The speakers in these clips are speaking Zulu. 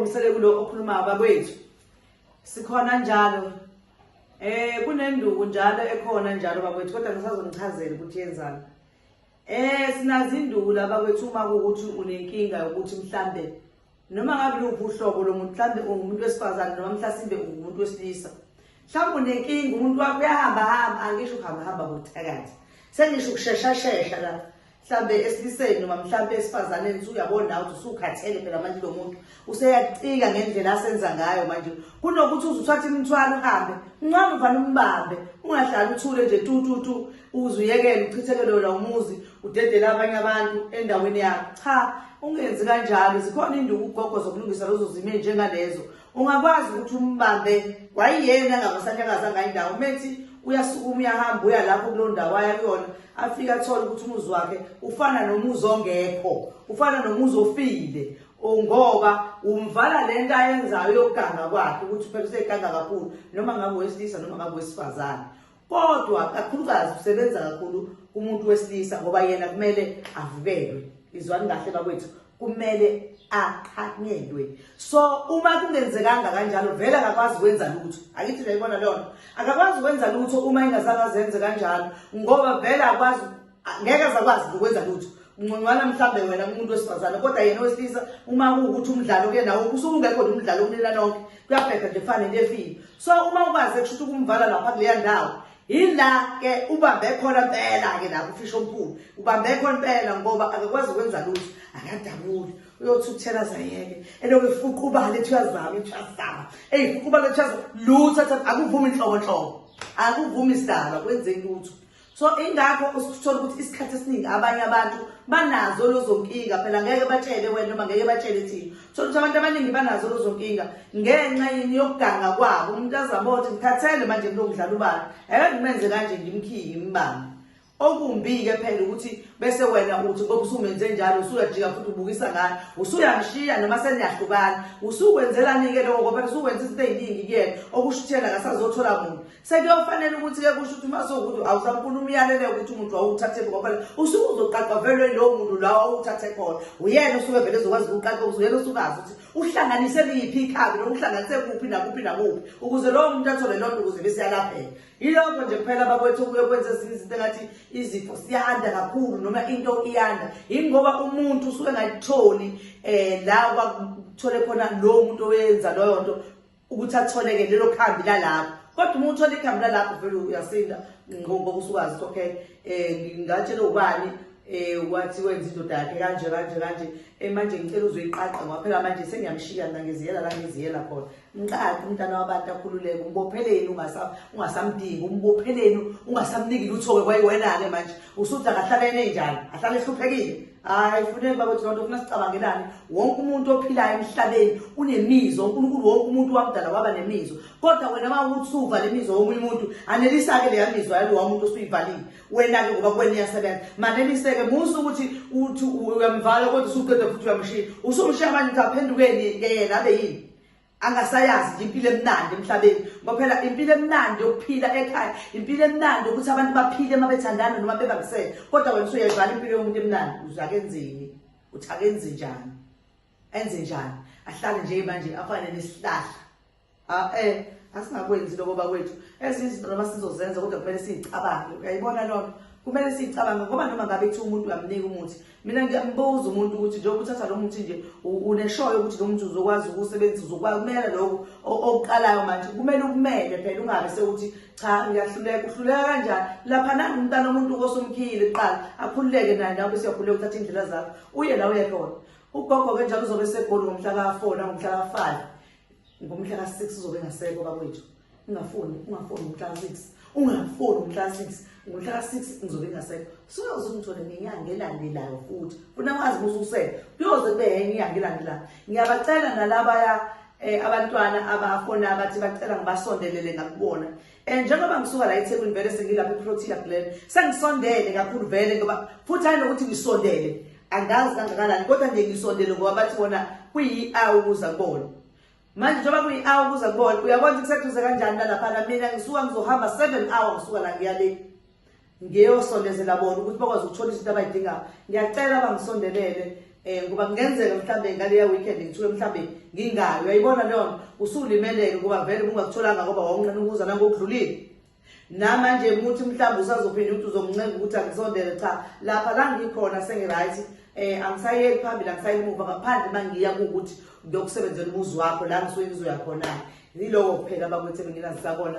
Ngisele kulo okhuluma bakwethu. Sikhona njalo. Eh kunenduku njalo ekhona njalo bakwethu kodwa ngisazonichazela ukuthi yenzani. Eh sinazi induku laba kwethu uma ukuthi unenkinga yokuthi mhlambe noma ngabe luphi uhlobo lomuntu mhlambe ungumuntu wesifazane noma mhlasimbe ungumuntu wesilisa. Mhlawumbe unenkinga umuntu wakho uyahamba hamba angisho uhamba hamba kuthakathi. Sengisho ukushesha shesha la. mhlambe esiliseni noma mhlambe esifazaneni usuyabona nawe ukuthi usukhathele phela manje lo muntu useyacika ngendlela asenza ngayo manje kunokuthi uze uthathe imithwalo uhambe uncane uvane umbambe ungahlali uthule nje tu tu tu uze uyekele uchithekele wena umuzi udedele abanye abantu endaweni yakho cha ungenzi kanjalo zikhona induku ugogo zokulungisa lezo zimo njengalezo ungakwazi ukuthi umbambe wayiyena angabasahlakaza ngayindawo umethi uyasukuma uyahamba uya lapho kulo ndawo aya kuyona afike athole ukuthi umuzi wakhe ufana nomuzi ongekho ufana nomuzi ofile ngoba umvala le nto ayenzayo yokuganga kwakhe ukuthi phela useganga kakhulu noma ngabe wesilisa noma ngabe wesifazane kodwa kakhulukazi usebenza kakhulu kumuntu wesilisa ngoba yena kumele avukelwe izwani kahle bakwethu kumele aqhanyelwe so uma kungenzekanga kanjalo vele akakwazi ukwenza lutho akithi nje ibona lona akakwazi ukwenza lutho uma ingazange azenze kanjalo ngoba vele akwazi ngeke azakwazi nokwenza lutho ngcongcwana mhlawumbe wena umuntu wesifazane kodwa yena owesilisa uma kuwukuthi umdlalo kuye nawo usuke ungekhona umdlalo umnina nonke kuyabheda nje kufane into efile so uma ukwazi kusho ukuthi ukumvala lapha kuleya ndawo yila ke ubambe khona impela ke lapho ufisha omkhulu ubambe khona impela ngoba akakwazi ukwenza lutho akadabuli uyothi ukuthela zayeke eloku ifuqa ubale ethi uyazama ethi uyazama eyi fuqa ubale ethi uyazama lutho akuvumi inhlobonhlobo akuvumi isidalwa kwenzeki lutho so ingakho usithola ukuthi isikhathi esiningi abanye abantu banazo lozonkinga phela ngeke batshele wena noma ngeke batshele thina thola ukuthi abantu abaningi banazo lozonkinga ngenxa yini yokuganga kwabo umuntu azama ukuthi ngithathele manje kulo kudlala ubala eke ngimenze kanje ngimkhiye ngimbambe okumbi-ke phela ukuthi bese wena uthi ngoba usumenze njalo usuyajika futhi ubukisa ngani usuyangishiya noma seniyahlukana usukwenzelani-ke loko ngoba phela usuwenza izinto ey'ningi kuyena okushuthela kasazothola muntu sekuyofanele ukuthi-ke kusho ukuthi uma sowukuthi awusafuna umyalele ukuthi umuntu wawuthathe ngoba usuke uzoqaqavelwe lowo muntu la wawuthathe khona uyena usuke vele ezokwazi ukuqaqa uyena usukazi ukuthi uhlanganise liphi ikhabi noma uhlanganise kuphi nakuphi nakuphi ukuze lowo muntu athole loo nto ukuze besiyalapheka yilokho nje kuphela bakwethu okuye kwenza ezinye izinto engathi izifo siyanda kakhulu noma into iyanda yingoba umuntu usuke engayitholi um la kwakuthole khona lowo muntu owenza loyo nto ukuthi atholeke lelo khambi lalapho kodwa uma uthola ikhambi lalapho vele uyasinda ngoba usukazi ukuthi okay um ngatshela ubani um wathi wenza indoda yakhe kanje kanje kanje um manje ngicela uzoyiqaqa ngwaphela manje sengiyamshiya mna ngiziyela la ngiziyela khona mqaqi umntana wabantu akhululeke umbopheleni ungasamdingi umbopheleni ungasamniki lutho-ke kwayiwena-ke manje usuthi akahlale enenjani ahlale ehluphekile hayi funeka bakwethu loo nto funa sicabangelane wonke umuntu ophilayo emhlabeni unemizo unkulunkulu wonke umuntu wamdala waba nemizo kodwa wena ma ukuthi suva le mizo womunye umuntu anelisa-ke leya mizwa yalo wamuntu osuyivalile wena-ke ngoba kuwena iyasebenza maneliseke musa ukuthi uthi uyamvala kodwa usuqeda futhi uyamshiya usumshiya manje ukuthi aphendukeni ke yena abe yini angasayazi nje impilo emnandi emhlabeni ngoba phela impilo emnandi yokuphila ekhaya impilo emnandi ukuthi abantu baphile uma bethandana noma bebambisene kodwa wena usuyayibhala impilo yomuntu emnandi uzakenzeni uthi akenzi njani enze njani ahlale nje manje afane nesihlahla ah eh asingakwenzi lokho bakwethu ezinye izinto noma sizozenza kodwa kumele siyicabange uyayibona lona kumele siyicabange ngoba noma ngabe kuthiwa umuntu uyamnika umuthi mina ngiyambuza umuntu ukuthi njengoba uthatha lo muthi nje uneshoyo ukuthi lo muthi uzokwazi ukusebenzisa uzokwazi kumele lokho okuqalayo manje kumele ukumele phela ungabe sewuthi cha ngiyahluleka uhluleka kanjani lapha nangu umntana omuntu kosumkhile kuqala akhululeke naye nawe siyakhululeka uthatha indlela zakho uye la uye khona ugogo-ke njalo uzobe segoli ngomhla ka-four nangomhla ka-five ngomhla ka-6 uzobe engasekho bakwethu ungafuni ungafuni ngomhla ka-6 ungafuni ngomhla ka-6 ngomhla ka-6 ngizobe engasekho suyoze ungithole ngenyanga elandelayo futhi funa wazi mususele kuyoze kube yenye inyanga elandelayo ngiyabacela nalabaya um abantwana abafona abathi bacela ngibasondelele ngakubona And njengoba ngisuka la eThekwini vele sengilapha eProtea Glen, sengisondele kakhulu vele ngoba futhi hayi nokuthi ngisondele angazi kangakanani kodwa nje ngisondele ngoba bathi wona kuyi-awu ukuza kubona manje njengoba kuyi-awu ukuza kubona uyabona ukuthi kuseduze kanjani nalapha na mina ngisuka ngizohamba seven hour ngisuka la ngiya le ngiyosondezela bona ukuthi bakwazi ukuthola izinto abayidingayo ngiyacela bangisondelele um ngoba kungenzeka mhlawumbe ngaleya weekend ngithuke mhlawumbe ngingayo uyayibona leyo nto usulimeleke ngoba vele bungakutholanga ngoba wawunqena ukuza nangokudlulile namanje ukuthi mhlawumbe usazophinde ukuthi uzongincenga ukuthi angisondele cha lapha la ngikhona sengi-right um eh, angisayeli phambili angisayeli muva ngaphandle uma ngiya kuwukuthi ngiyokusebenzela umuzi wakho la ngisuke ngizoya khona-ke yiloko kuphela bakwethe benginazisakona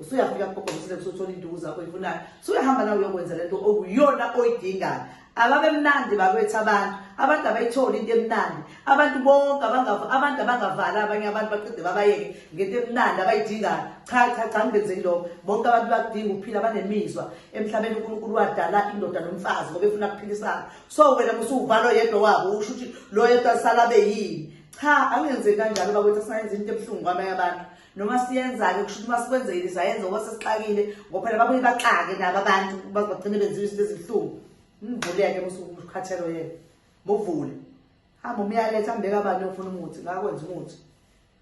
usuyafika kugogo usile kusothola induku zakho ifunayo suyahamba nawe uyokwenza lento okuyona oyidingayo ababemnandi bakwethu abantu abantu abayitholi into emnandi abantu bonke abantu abangavali abanye abantu baqede babayeke ngento emnandi abayidingayo cha cha cha ngibenzeki lokho bonke abantu bakudinga ukuphila banemizwa emhlabeni unkulunkulu wadala indoda nomfazi ngoba efuna kuphilisana so wena musuwuvalo yedwa wabo usho ukuthi lo yedwa sala beyini cha angenze kanjalo bakwethu asingayenza into ebuhlungu kwamanye abantu noma siyenza-ke kusho ukuthi uma sikwenzekile sayenza ngoba sesixakile ngoba phela babuye baxake nabo abantu bagcine benziwa izinto ezibuhlungu mvuleke mukhathelo yena muvule hamba umyaletha ambeka abani ofuna umuthi ngakwenza umuthi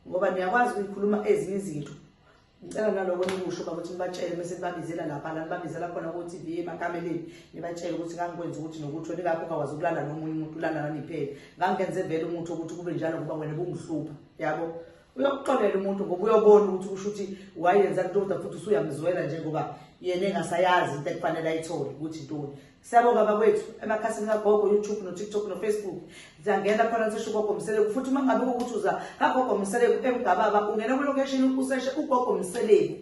ngoba niyakwazi ukuyikhuluma ezinye izinto ngicela naloko nikusho uba ukuthi nibatshele bese nibabizela lapha la nibabizela khona ku-tv emakameleni nibatshele ukuthi ngangikwenza ukuthi nokuthi wena ingakho ungakwazi ukulala nomunye umuntu ulala naniphele ngangenze vele umuthi wokuthi kube njalo ngoba wena bungihlupha yabo uyakuxolela umuntu ngoba uyobona ukuthi kusho ukuthi wayenza ntoda futhi usuyamzwela njengoba yena engasayazi into ekufanele ayithole ukuthi ntoni siyabonga bakwethu emakhasini kagogo youtube notiktok nofacebook ziyangena khona sisho ugogo mseleku futhi uma ngabe ukuthi uza kagogo mseleku emgababa ungena kulocation useshe ugogo mseleku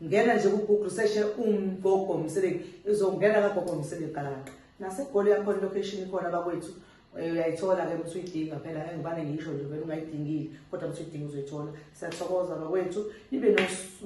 ngena nje kugoogle seshe umgogo msebeki izongena kagogo msebeki galaqa nasegoli yakhona ilocation ikhona bakwethu eh, uyayithola-ke ukuthi uyidinga phela engibane ngisho nje vele ungayidingile kodwa ukuthi uyidinga uzoyithola siyathokoza bakwethu nibe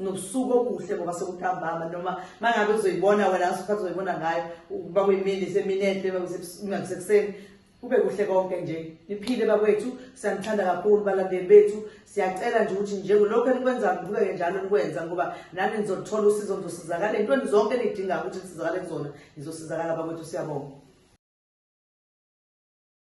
nobusuku obuhle ngoba sekutambama noma uma ngabe uzoyibona wena asikhathi uzoyibona ngayo uba kuyimini semini enhle uma kusekuseni kube kuhle konke nje niphile bakwethu siyanithanda kakhulu balandeli bethu siyacela nje ukuthi njengelokhu enikwenzayo niqhubeke njalo nikwenza ngoba nani nizoluthola usizo nizosizakala entweni zonke enidingayo ukuthi nisizakale kuzona nizosizakala bakwethu siyabonga